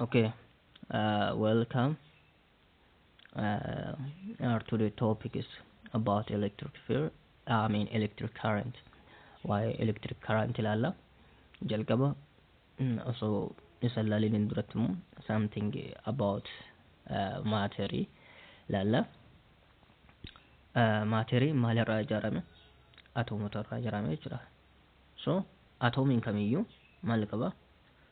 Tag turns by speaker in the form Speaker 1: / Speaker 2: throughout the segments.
Speaker 1: Okay, uh, welcome. Uh, our today topic is about electric field. I mean electric current. Why electric current ilaalla. Jalqaba mm, osoo isa ilaalin hin duratti immoo something about uh, maaterii ilaalla. Uh, maaterii maalirraa ijaarame? Atoomotarraa ijaarame jechuudha. So atoomiin kamiyyuu maal qaba?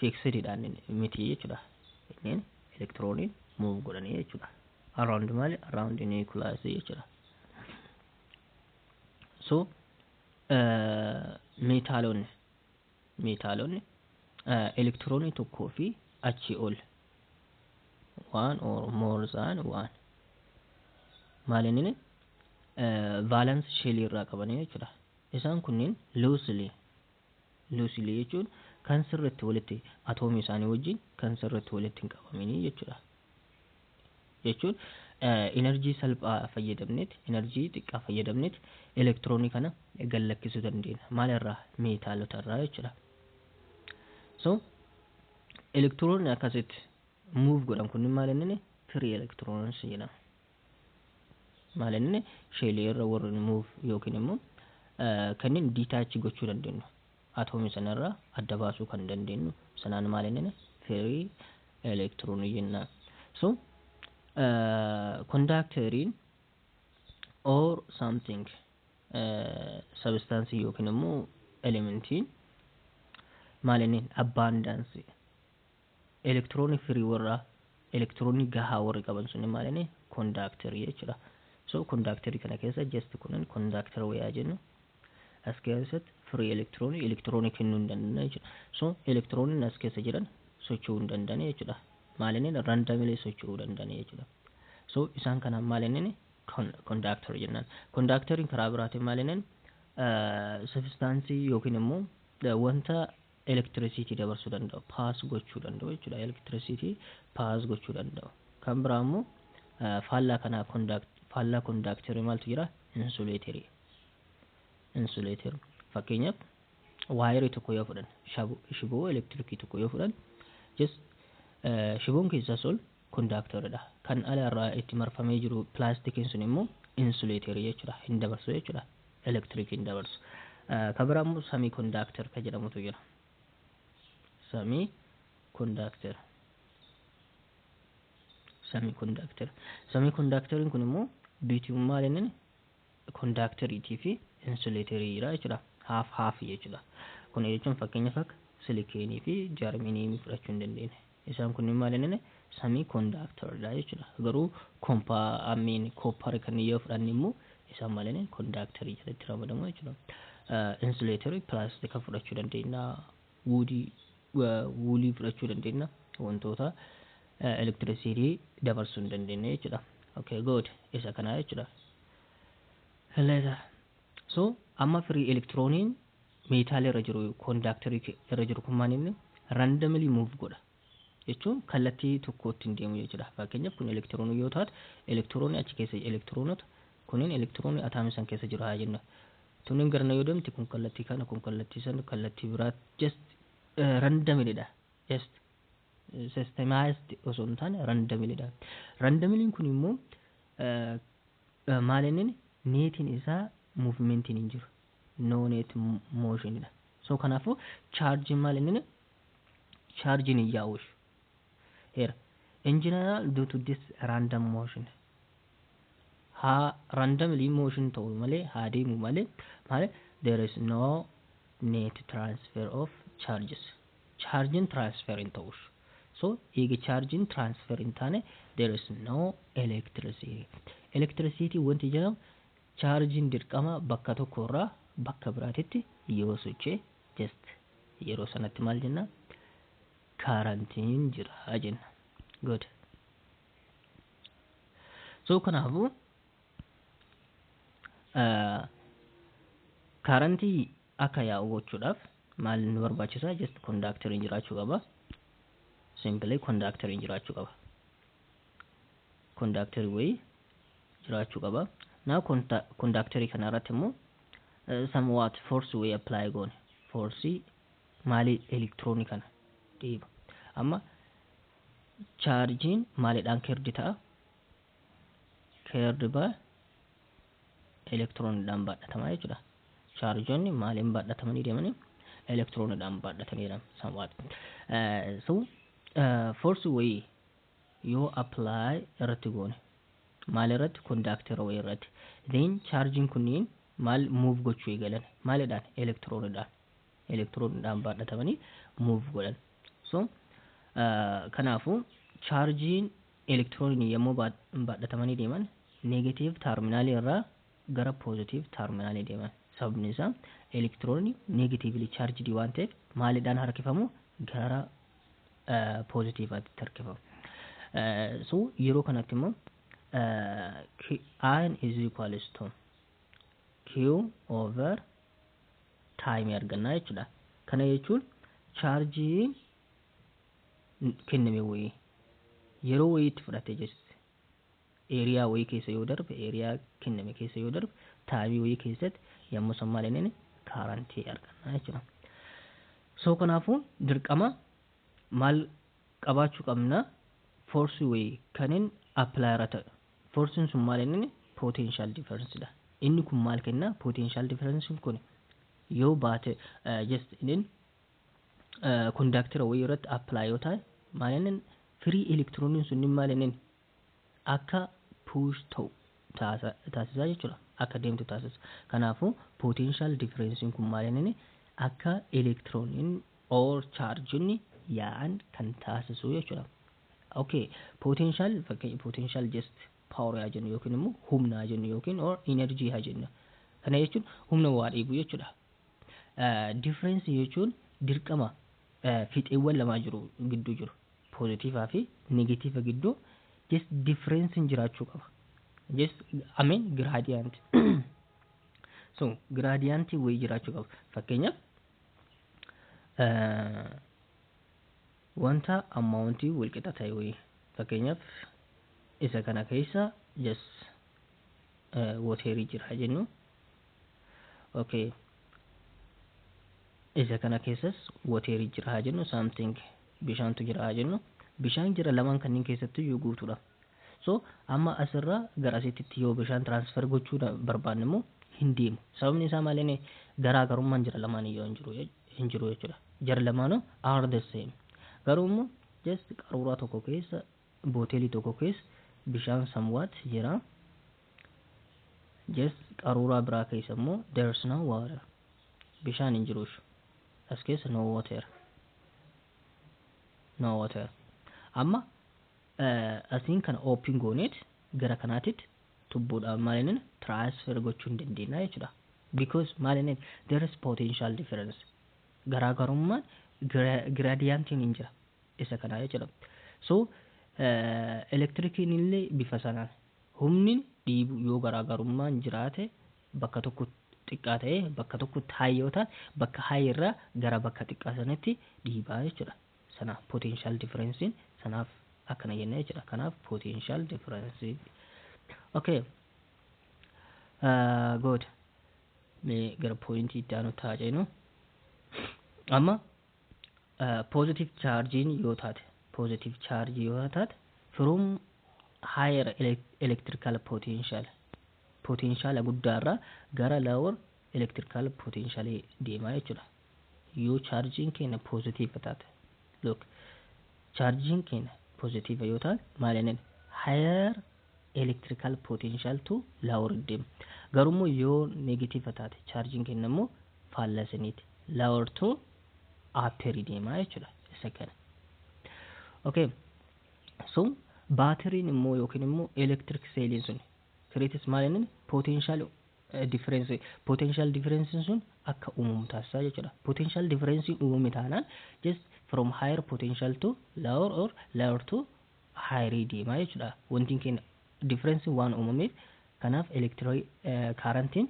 Speaker 1: fixed dha inni miti jechuudha inneen elektirooniin move godhanii jechuudha around maali around nucleus jechuudha so uh, meetaalonni meetaalonni uh, elektiroonii tokkoo fi achii ol one or more than one maal inni uh, valence shell irraa qabanii jechuudha isaan kunniin loosely loosely jechuun kan sirriitti walitti atoomii isaanii wajjin kan sirriitti walitti hin qabaminii jechuudha. Jechuun enerjii salphaa fayyadamneet enerjii xiqqaa fayyadamneet elektiroonii kana gad lakkisuu dandeenya. Maal irraa? Meetaalota irraa jechuudha. So elektiroonni akkasitti move godhan kunniin maal inni free electrons jedhama. maal inni sheelii irra warri move yookiin immoo kanneen detach gochuu dandeenyu atoomii sana irraa adda baasuu kan dandeenyu sanaan maal inni firii elektiroonii jenna so kondaakteriin or something sabistaansii yookiin immoo elementiin maal inni abbaandaansii Elektiroonii firii warra elektiroonii gahaa warri qaban sunni maalini kondaakterii jechuudha. So kondaakterii kana keessa just kunin kondaakter wayaa jennu as keessatti firii elektiroonii elektiroonii kennuu hin dandeenye jechuudha. So elektirooniin as keessa jiran socho'uu hin dandeenye jechuudha. Maalinin randamilee socho'uu dandeenye jechuudha. So isaan kana maalinin kondaakter jennaan. Kondaakteriin karaa biraatiin maalinin sabistaansii yookiin immoo wanta electricity dabarsuu danda'u, pass gochuu danda'u jechuudha. Electricity pass gochuu danda'u. Kan biraa immoo faallaa kanaa conduct faallaa conductor maaltu jira? Insulator. Insulator. Fakkeenyaaf waayerii tokko yoo fudhan shiboo elektirikii tokko yoo fudhan just shiboon keessaas ol Kondaaktoridha. Kan ala irraa itti marfamee jiru pilaastikiin sun immoo insuleeterii jechuudha. Hin dabarsu jechuudha. Elektirikii hin dabarsu. Ka biraa immoo samii kondaakter ka jedhamutu jira. Samii kondaakter. Samii kondaakter. Samii kondaakteriin kun immoo biitiyuum maal inni? Kondaakteriitii fi insuleeterii irraa jechuudha. Haaf haaf jechuudha. Kana jechuun fakkeenyaaf akka silikeenii fi jarminiimii fudhachuu hin dandeenye. Isaan kunniin maal hin samii kondaakteridha jechuudha. Garuu kompaa amiin koopparii kanneen yoo fudhanne immoo isaan maal hin kondaakterii jalatti ramadamu jechuudha. Insuleeterii pilaastika fudhachuu dandeenya. Woodii, woolii fudhachuu dandeenya. Wantoota elektirisiitii dabarsuu hin dandeenye jechuudha. Okay, good. Isa kanaa jechuudha. Later. So, amma firii elektirooniin meetaalii irra jiru, kondaaktarii irra jiru kun maal inni? Randomly move godha. jechuun kallattii tokkotti hin deemu jechuudha. Fakkeenyaaf kun elektiroonii yoo taate elektiroonii achi keessa elektiroonota kunneen elektiroonii ataamii san keessa jiru haa jennu. Tunniin garana yoo deemte kun kallattii kana kun kallattii san kallattii biraa just eh, randomly dha. Just eh, systemized osoo hin taane randomly dha. Randomly kun immoo eh, eh, maal inni neetiin isaa muuvimentiin hin jiru. No net motion dha. So kanaafuu chaarjiin maal inni charge ni yaa'ush era in general due to this random motion haa randomly motion ta'u malee haa deemu malee malee there is no net transfer of charges chargin transfer hin ta'ush so eega chargin transfer hin taane there is no electricity electricity wanti jedhamu chargin dirqama bakka tokko irraa bakka biraatitti yoo sochee just yeroo sanatti maal jenna karantiin jira jenna good so kanaafuu uh, karantii akka yaa'u gochuudhaaf maal nu barbaachisa just kondaakteriin jiraachuu qaba simply kondaakteriin jiraachuu qaba kondaakterii wayii jiraachuu qaba. Naa kondaakterii kana irratti immoo some what force wayii apply goone foorsii maalii elektiroonii kana dhiiba. Amma chaarjiin maalidhaan keerdi ta'a? Keerdi baa elektiroonidhaan baadhatamaa jechuudha. Chaarjonni maaliin baadhatamanii deemanii? Elektiroonidhaan baadhatanii deeman some what. So force wayii yoo apply irratti goone maal irratti conduct row irratti then charging kunniin maal move gochuu eegalan maalidhaan electron dhaan electron dhaan baadhatamanii move godhan so kanaafu charging electron yommuu baadhatamanii deeman negative terminal irraa gara positive terminal deeman sababni isaa electron negatively charged waan ta'eef maalidhaan harkifamu gara poozitiivaatti tarkifamu. So yeroo kanatti immoo iron is equals to q over time argannaa jechuudha. Kana jechuun chaarjii kenname wayii yeroo wayiitti fudhatee jirti. area wayii keessa yoo darbe area kenname keessa yoo darbe taabii wayii keessatti yommuu san maal inni kaarantii arganna jechuudha. So kanaafuu dirqama maal qabaachuu qabna force wayii kanin apply irra ta'e forcing sun maal inni potential difference dha. Inni kun maal kenna potential difference kun yoo baate just inni conductor wayii irratti apply yoo ta'e maal inni free electroniin sun maal inni akka push ta'u taasisa jechuudha. Akka deemtu taasisa. Kanaafuu potential difference kun maal inni akka elektirooniin or chaarjonni yaa'an kan taasisu jechuudha. Okay, potential fakkeenya potential just power yaa jennu yookiin immoo humna haa jennu yookiin or energy haa jennu. Kana jechuun humna waa dhiibu jechuudha. Difference jechuun dirqama fixeewwan lamaa jiru gidduu jiru. positive fi negative gidduu just difference jiraachuu qaba just I mean gradient so gradient wayii jiraachuu qaba fakkeenyaaf uh, wanta amount wal qixa ta'e wayii fakkeenyaaf isa kana keessa just uh, waterii jira jennu okay isa kana keessas water jira haa jennu something bishaantu jira haa jennu bishaan jira lamaan kanneen keessattu iyyuu guutuudha so amma asirra gara asitti yoo bishaan transfer gochuu da- barbaanne immoo hin deemu sababni isaa maal inni garaagarummaan jira lamaan iyyuu hin jiru jech- hin jiru jechuudha jara lamaanuu are the same garuu immoo just qaruuraa tokko keessa Boteli tokko keessa bishaan somewhat jira. Just qaruuraa biraa keessa immoo there's no water. Bishaan hin jiru ishu. As keessa no water. No water. Amma asiin kana open gooneet gara kanaatitti tubbuudhaan maal inni transfer gochuu hin dandeenya jechuudha. Because maal inni there is potential difference. Garaagarummaan gradient hin jira. isa kanaa jechuudha. So elektirikiin illee bifa sanaan humni dhiibu yoo garaagarummaan jiraate bakka tokko xiqqaa ta'ee bakka tokkotti haay yoo ta'an bakka haay irraa gara bakka xiqqaa sanatti dhiibaa jechuudha. Sana potential difference sanaaf akkana jenna jechuudha. Kanaaf potential difference. Okay. Uh, good. Mee gara poointii itti aanu taa'aa jennu. Amma positive charge yoo taate positive charge yoo taate from higher electrical potential potential guddaarraa gara lower electrical potential deemaa jechuudha yoo chargein keenya positive taate look chargein keenya positive yoo taate maal jenneen higher electrical potential to lower deema garuu immoo yoo negative taate chargein keenya immoo faallaa isiniiti lower to upper deemaa jechuudha isa kana okay so baatiriin immoo yookiin immoo electric seeliin sun creates maal inni potential difference potential difference sun akka uumamu taasisaa jechuudha potential difference uumame taanaan just from higher potential to lower or lower to higher deema jechuudha. Wantiin keenya difference waan uumameef kanaaf electric current'n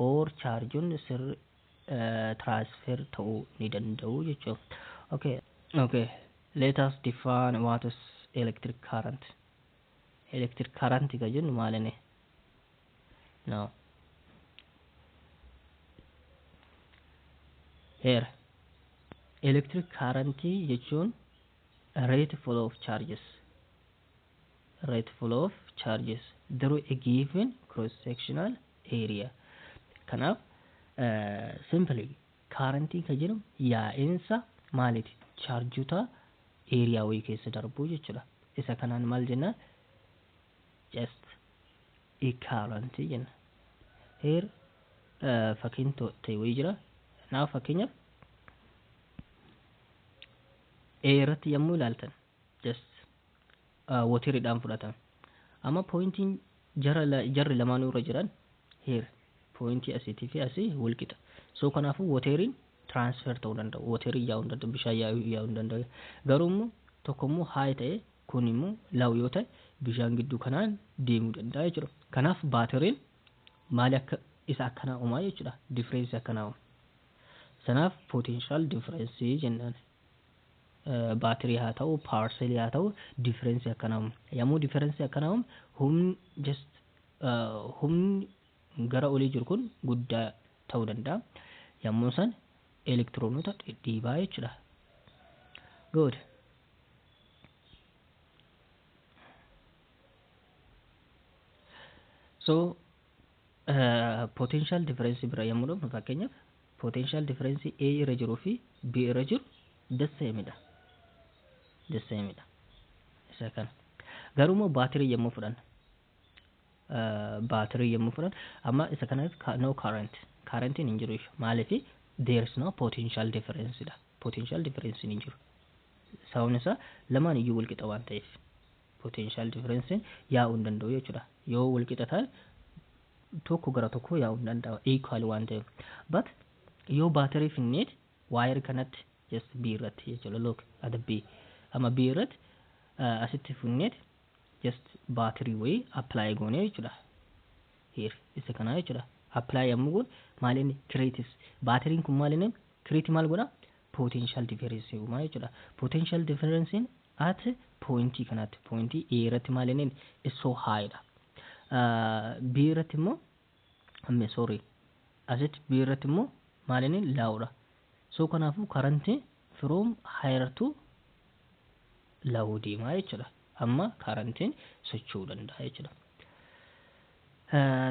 Speaker 1: or charge'n sir transfer ta'uu ni danda'u jechuudha. Okay. Okay. Let us define what is electric current. Electric current ka jennu maalinni? No. Here. Electric current jechuun Rate flow of charges Rate flow of charges through a given cross sectional area kanaaf uh, simply current ka jedhamu yaa'insa maaliti chaarjota area wayii keessa darbuu jechuudha isa kanaan maal jennaan just equivalent jenna. Here fakkiin ta'e wayii jira. Now fakkeenyaaf A irratti yommuu ilaaltan just wotiriidhaan fudhatame. Amma pooyintiin jarri lamaanuu irra jiran here pooyintii asiitii fi asii wal qixa. So kanaafuu woteriin transfer ta'uu danda'u. Woteriin yaa'uu hin danda'u. Bishaan yaa'uu hin danda'u. Garuu immoo tokko immoo high ta'ee Kun immoo low yoo ta'e bishaan gidduu kanaan deemuu danda'a jechuudha. Kanaaf baatiriin maali akka isa akkanaa uumaa jechuudha. Difference akkanaa uuma. Sanaaf potential difference jennaan. Baatirii haa ta'u, power cell haa ta'u difference akkanaa uuma. Yommuu difference akkanaa uumu humni just humni gara olii jiru kun guddaa ta'uu danda'a. Yommuu san elektiroonota dhidhiibaa jechuudha. Good. so potential difference bira yommuu dhufnu fakkeenyaaf potential difference A irra jiruu fi B irra jiru the same dha the same dha isa kana garuu immoo baatirii yommuu fudhanna baatirii yommuu fudhan amma isa kanas no current currentiin hin jiru jechuudha maaliif there is no potential difference dha potential difference hin jiru sababni isaa lamaan iyyuu walqixa waan ta'eef potential difference yaa'uu hin danda'u jechuudha yoo walqixa ta'e tokko gara tokko yaa'uu hin danda'u equal waan ta'eef but yoo baatirii finneet waayir kanatti just B irratti jechuudha look at B amma B irratti asitti finneet just battery wayii apply goonee jechuudha here isa kanaa jechuudha apply yommuu goon maal inni creates battery kun maal inni create maal godha potential difference uumaa jechuudha potential difference at point kanatti point A irratti maal inni is so high dha uh, B irratti immoo amme sorry asitti B irratti immoo maalini low dha so kanaafuu current from higher to low deemaa jechuudha amma currentiin socho'uu danda'a jechuudha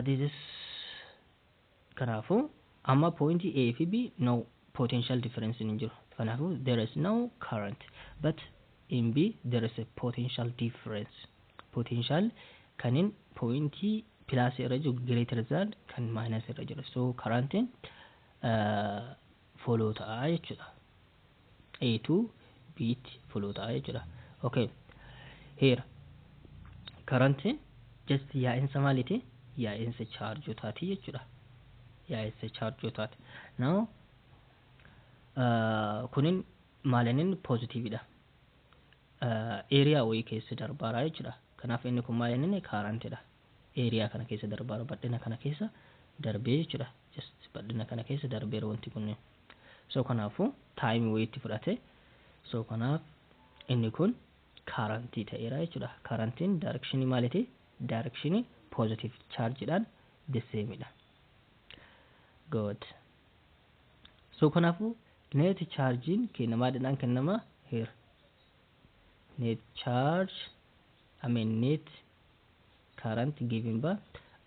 Speaker 1: this is kanaafuu amma point A fi B no potential difference hin jiru kanaafuu there is no current but in B there is a potential difference potential kanin point plus irra jiru greater than kan minus irra jira so current in follow ta'a jechuudha a to b itti follow ta'a jechuudha okay here current in just yaa'insa maaliti yaa'insa chaarjotaati jechuudha yaa'insa chaarjotaati now kunin maalinin positividha area wayii keessa darbaara jechuudha. Kanaaf inni kun maal inni current dha. Area kana keessa darbaara badhina kana keessa darbee jechuudha. Just badhina kana keessa darbeera wanti kunniin. So kanaafu time wayiitti fudhate. So kanaaf inni kun current ta'eera jechuudha. Currentiin direction maaliti? Direction positive charge dhaan the same dha. Good. So kanaafuu neeti chaarjiin keenya maadhaan kennama here. Net charge I mean net current given by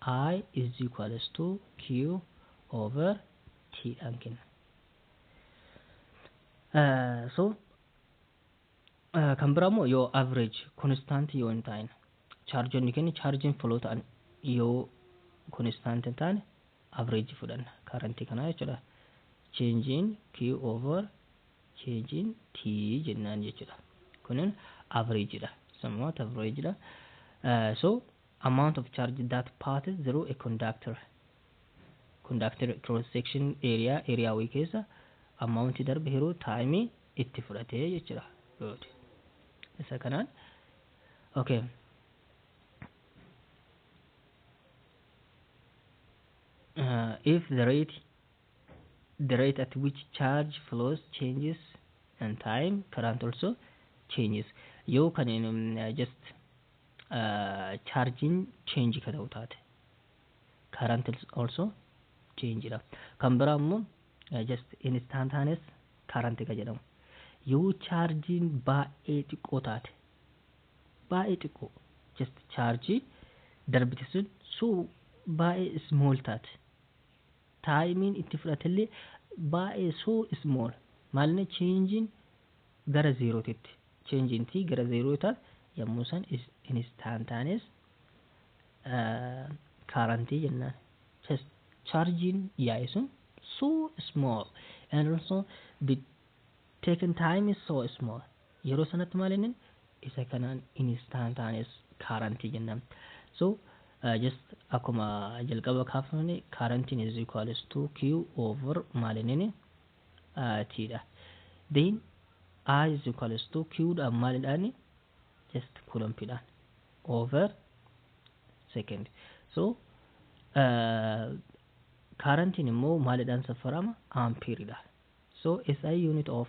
Speaker 1: I is equals to Q over T dhaan kenna. Uh, so uh, kan biraa immoo yoo average constant yoo hin taane chaarjonni keenya chaarjiin foloo ta'an yoo constant hin taane average fudhanna current kanaa jechuudha. change in Q over change in T jennaan jechuudha. Kunin average dha. Somewhat average dha. Uh, so amount of charge that passes through a conductor. Conductor cross section area area wayii keessa amount darbe hiruu time itti fudhatee jechuudha. Good. Isa kanaan okay. uh, if the rate the rate at which charge flows changes and time current also changes yoo kan in, um, just uh, charging change ka ta'u taate current also change dha kan biraa immoo uh, just instantaneous current ka jedhamu yoo charging baay'ee xiqqoo taate baay'ee xiqqoo just charge darbite sun so baay'ee small taate taayimiin itti fudhatellee baay'ee so small maalinni cheenjiin gara zeerootitti cheenjiin tii gara zeeroo taate yommuu san instantaneous kaarantii jennaan just charjiin yaa'e sun so small and also the taken time is so small Yeroo sanatti maal jenneen isa kanaan instantaneous current jennaan. So just akkuma jalqaba kaafamne current is equals to Q over maal jenneen T dha. Then I is equals to Q dhaan maalidhaan just coulomb dhaan over second. So uh, current immoo maalidhaan saffarama ampere dhaan. So SI unit of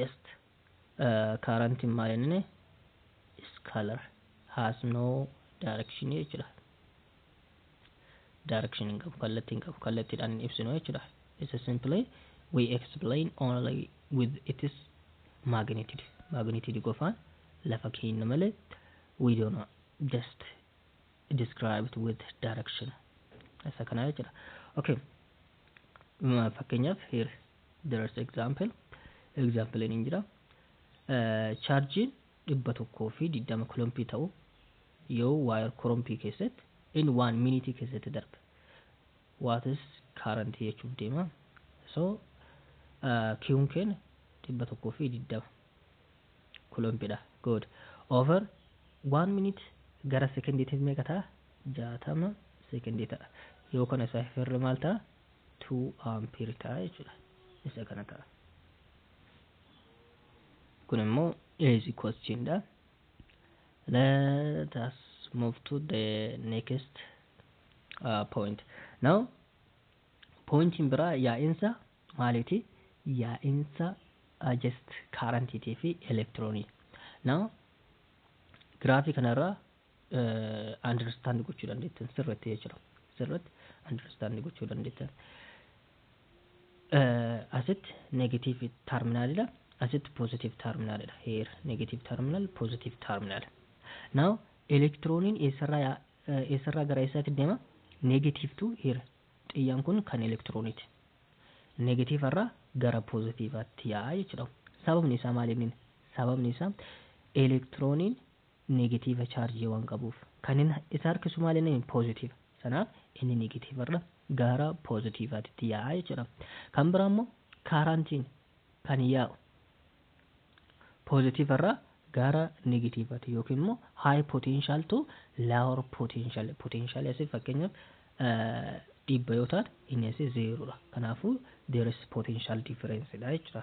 Speaker 1: just uh, current in my name is color has no direction jechuudha direction hin qabu kallattii hin qabu kallattiidhaan hin ibsinu jechuudha it's a simply we explain only with its magnitude magnitude qofaan lafa keenya malee we don't know just described with direction isa kana jechuudha okay Ma- fakkeenyaaf here There is example. Example ni jira. Chaarjiin dhibba tokkoo fi digdama kilompii ta'u yoo waayar korompii keessatti in one minute keessatti darbe. What is current jechuuf deema. So kiwun keenya dhibba tokkoo fi digdama kilompiidha. Good. Over one minute gara sekondiitiif meeqa ta'a? Jaatama sekondii ta'a. Yoo kana isaa hirre maal ta'a? 2 ampere ta'a jechuudha. Isa kana ta'a. Kun immoo is equals chin dha. Let us move to the next uh, point. Now, pointiin biraa yaa'insa maaliiti? Yaa'insa uh, just currentiitii fi elektiroonii. Now, giraafii kanarraa understand gochuu dandeettan sirratti jechuudha. Sirratti understand gochuu dandeettan. Asitti negative terminal dha. Asitti positive terminal dha. Here negative terminal, positive terminal. Now elektirooniin eessarraa eessarraa gara eessaatti deema? Negative to here. Xiyyaan kun kan elektirooniiti. Negative irraa gara positivaatti yaa'a jechuudha. Sababni isaa maal inni? Sababni isaa elektirooniin negatiiva charge waan qabuuf. Kanin isa harkisu maal inni positive. Sanaaf inni negative irra gaara positive atitti yaa'a jechuudha. Kan biraa immoo kaarantiin kan yaa'u positive irra gaara negative ati yookiin immoo high potential to lower potential potential asi fakkeenyaaf dhibba yoo taate inni asi zeeroodha. Kanaafuu there is potential difference dha jechuudha.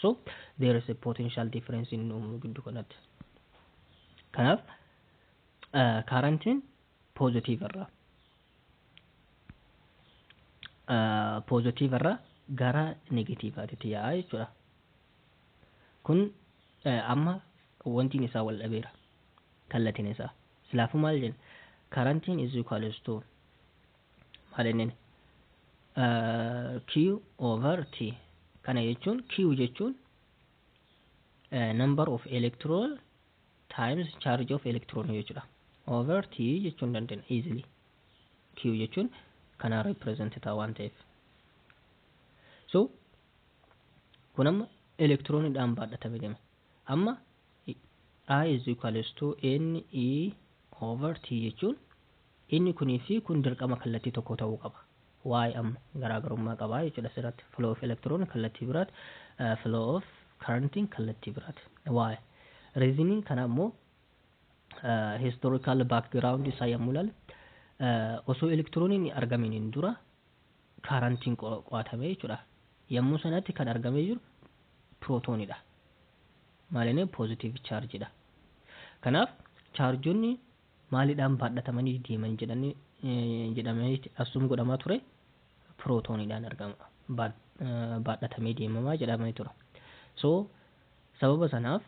Speaker 1: So there is a potential difference in uumnu giddu kanatti. Kanaaf kaarantiin poozitiiv irraa poozitiiv irraa gara negatiivaatitti yaa'a jechuudha. Kun amma wantiin isaa wal dhabeera kallatiin isaa. Silaafuu maal jenna? Kaarantiin is equals to maal innini q over t kana jechuun q jechuun number of electron times charge of electron jechuudha over t jechuun dandeenya easily q jechuun kana represent ta'a waan ta'eef so kun amma elektiroonidhaan baadhatame deema amma i is equals to n e over t jechuun Inni kunii fi kun dirqama kallattii tokkoo ta'uu qaba. Why amma? Garaagarummaa qabaa jechuudha asirratti. Flow of electron kallattii biraat, flow of currenting kallattii biraat. Why? Reasoning kana ammoo historical background isaa yommuu ilaalle osoo elektirooniin hin argamin hin dura kaarantiin qo'atame jechuudha. Yommuu sanatti kan argamee jiru pirootoonidha. Maalinni poozitiiv chaarjidha. Kanaaf chaarjonni maalidhaan baadhatamanii deeman jedhanii jedhamee assume godhamaa ture pirootooniidhaan argama baad- eh, baadhatamee deemamaa jedhamee ture so sababa sanaaf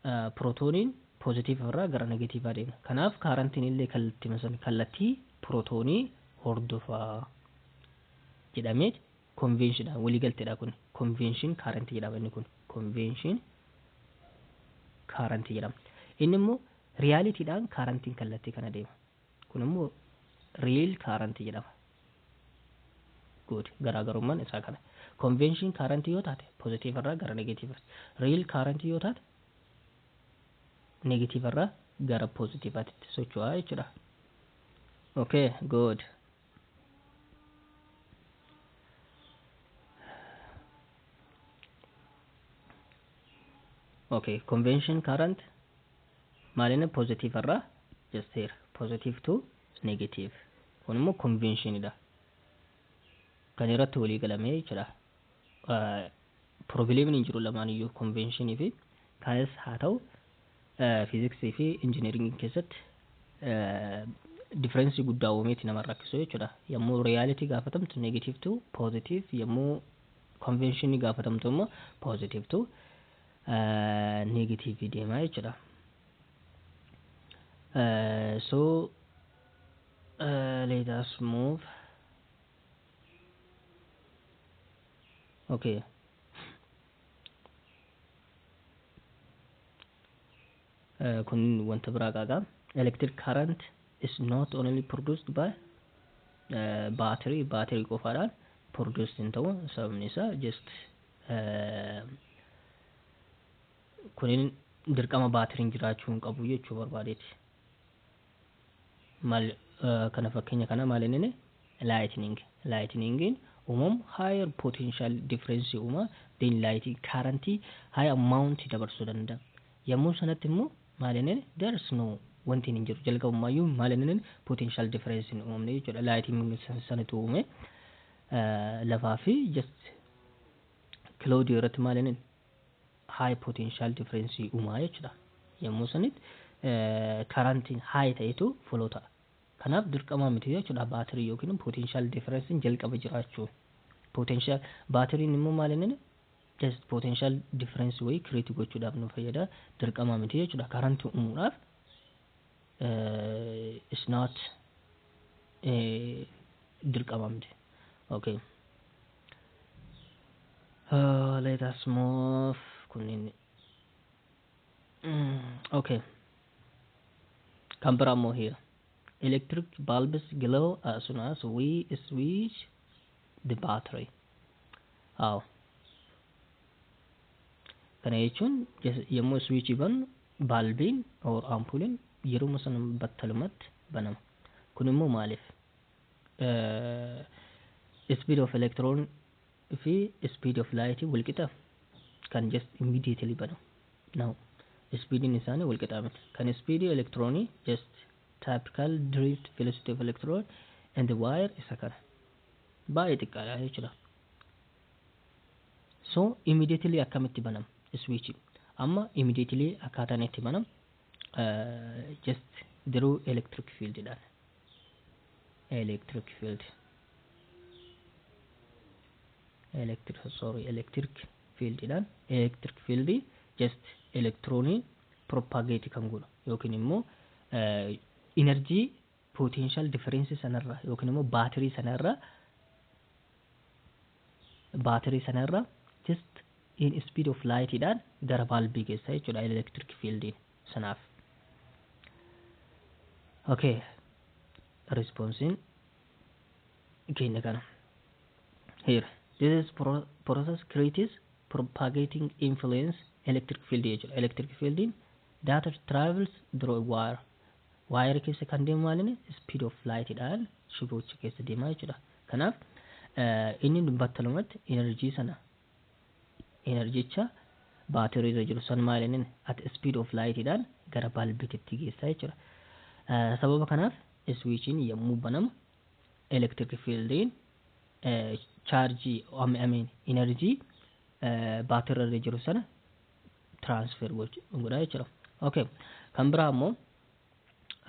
Speaker 1: eh, pirootooniin poozitiiv irraa gara negatiivaa deema kanaaf kaarantiin illee kallattii san kallattii pirootoonii hordofaa jedhamee konveenshiidhaan waliigalteedha kun konveenshiin kaarantii jedhama inni kun konveenshiin kaarantii jedhama inni immoo Reality dhaan current n kallattii kana deema. Kun immoo real current jedhama. Good. Garaagarummaan isaa kana. Convention current yoo taate positive irraa gara negative tti. Real current yoo taate negative irraa gara positive tti socho'a jechuudha. Okay, good. okay convention current maalina positive irraa just here positive to negative kun immoo convention dha kan irratti walii galamee jira Pirobileemiin hin jiru lamaan iyyuu konveenshinii fi kaayes haa ta'u fiiziksii fi injiniiringiin keessatti differeensii guddaa uumeeti nama hin rakkisu jechuudha. Yommuu riyaalitii gaafatamtu negatiiv tu poozitiiv yommuu konveenshinii gaafatamtu immoo poozitiiv tu negatiivii deemaa jechuudha. So let us move. okay Eh, kun wanta biraa qaaqa electric current is not only produced by eh, battery battery qofaadhaan produced hin ta'u sababni isaa just eh, kunin dirqama baatiriin jiraachuu hin qabu jechuu barbaadeeti Mal kana fakkenya kana mal inine lightning lightning umam higher potential difference uma then light current high amount dabarsu danda yammu sanatti immo mal inine there's no wantiin hin jiru jalqabummaayyu mal inine potential difference hin umamne jechuudha lightning sanitu uume lafaa fi just cloud irratti mal inine high potential difference uumaa jechuudha. Yommuu sanitti karantiin high ta'etu follow ta'a. Kanaaf dirqamaa miti jechuudha baatirii yookiin potential difference jalqaba jiraachuu. Potential baatiriin immoo maal inni just potential difference wayii create gochuudhaaf nu fayyada dirqamaa miti jechuudha karantii uumuudhaaf is not dirqamaa miti. Okay. Uh, let us move. Kunniin. Mm, okay. Kan biraa immoo here. Electric bulbs glow as soon as we switch the battery. How? Kana jechuun jes- yommuu switch bannu baalbiin or ampuuliin yeruma sana battalumatti banama. Kun immoo maaliif? speed of electron fi speed of light wal qixa kan just immediately banu no speedin isaanii wal qixaa miti kan speed electron just typical drift velocity of electron and the wire isa kana baay'ee xiqqaadha jechuudha so immediately akkamitti banam switch amma immediately akkaataan itti banam just diruu electric field dhaan electric field electric sorry electric field dhaan electric field just elektiroonii propagate kan godhu yookiin immoo energy potential difference sana irra yookiin immoo battery sana irra battery sana irra just in speed of light dhaan gara bulb geessa jechuudha electric field sanaaf. Okay. Response keenya kana. Here. This is pro process creates propagating influence electric field jechuudha. Electric field data travels through a wire. Waayera keessa kan deemu maalini? Speed of light dhaan shibocha keessa deema jechuudha. Kanaaf inni battalumatti energy sana enerjicha baatirii irra jiru san maalinin at speed of light dhaan gara balbititti geessa jechuudha. Sababa kanaaf switchiin yommuu banamu electric fieldiin chaarjii I mean energy baatirii irra jiru sana transfer gochu hin godha jechuudha okay kan biraa ammoo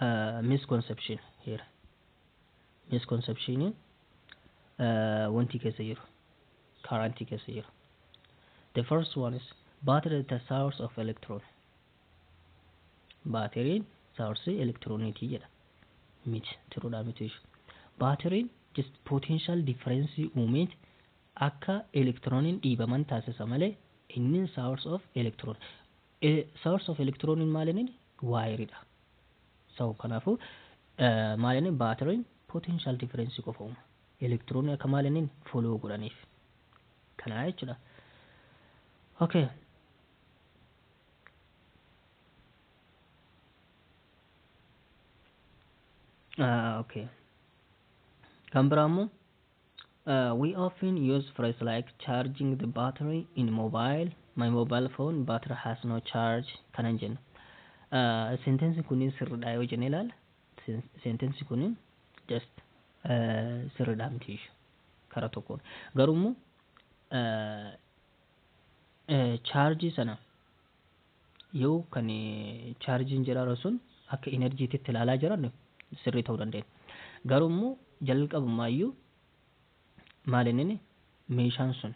Speaker 1: uh, misconception here misconception uh, wanti keessa jiru current keessa jiru the first one is battery is the source of electron baateriin saarsii elektirooniitii jedha miti tiruudhaa miti ishu baateriin just potential difference uumeet akka elektirooniin dhiibaman taasisa malee Innin source of electron. E, source of electron in maal innin? Wire dha. So, kanaafu maal innin battery in potential difference qofa uuma. Electron akka maal innin follow godhaniif. Kanaa jechuudha. Okay. Ah, okay. Kan biraa immoo We often use phrase like charging the battery in mobile, my mobile phone battery has no charge kanan jennu. Sentensi kun sirridha yoo jenne ilaala. Sentensi kun just sirridha miti ishu kara tokkoon. Garuu immoo charge sana Yoo kan chaarjiin jedharu sun akka energy titti ilaalaa jiran sirrii ta'uu dandeenya. Garuu immoo jalqabumaa iyyuu maal inni meeshaan sun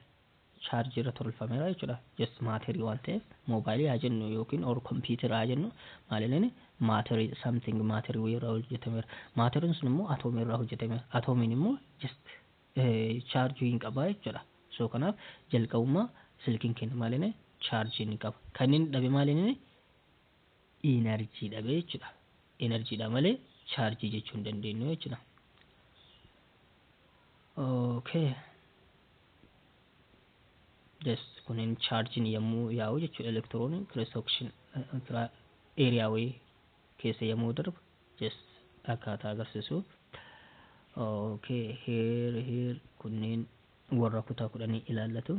Speaker 1: chaarjii irra tolfameera jechuudha. Just maaterii waan ta'eef moobaayilii haa jennu yookiin or kompiitara haa jennu maal inni maaterii something maaterii wayii irraa hojjetameera. Maateriin sun immoo atoomii irraa hojjetameera. Atoomiin immoo just charge hin qaba jechudha so kanaf jalqabuma silkin kenya mal inni charge ni qaba kan inni dhabe mal inni energy dhabe jechudha energy dha male charge jechu hin dandeenyu jechudha okay just kunin charge ni yammu yaa'u jechu electron cross section area way keessa yammu darbu just akkaataa agarsiisuuf ok here here kunniin warra kutaa kudhanii ilaallatu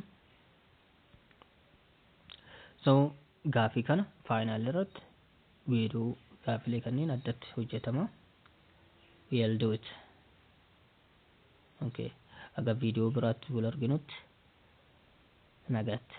Speaker 1: so gaafii kana faayinaal irratti wiiduu gaafilee kanneen addatti hojjetama we'll do it okay aga viidiyoo biraatti wal arginutti nagaatti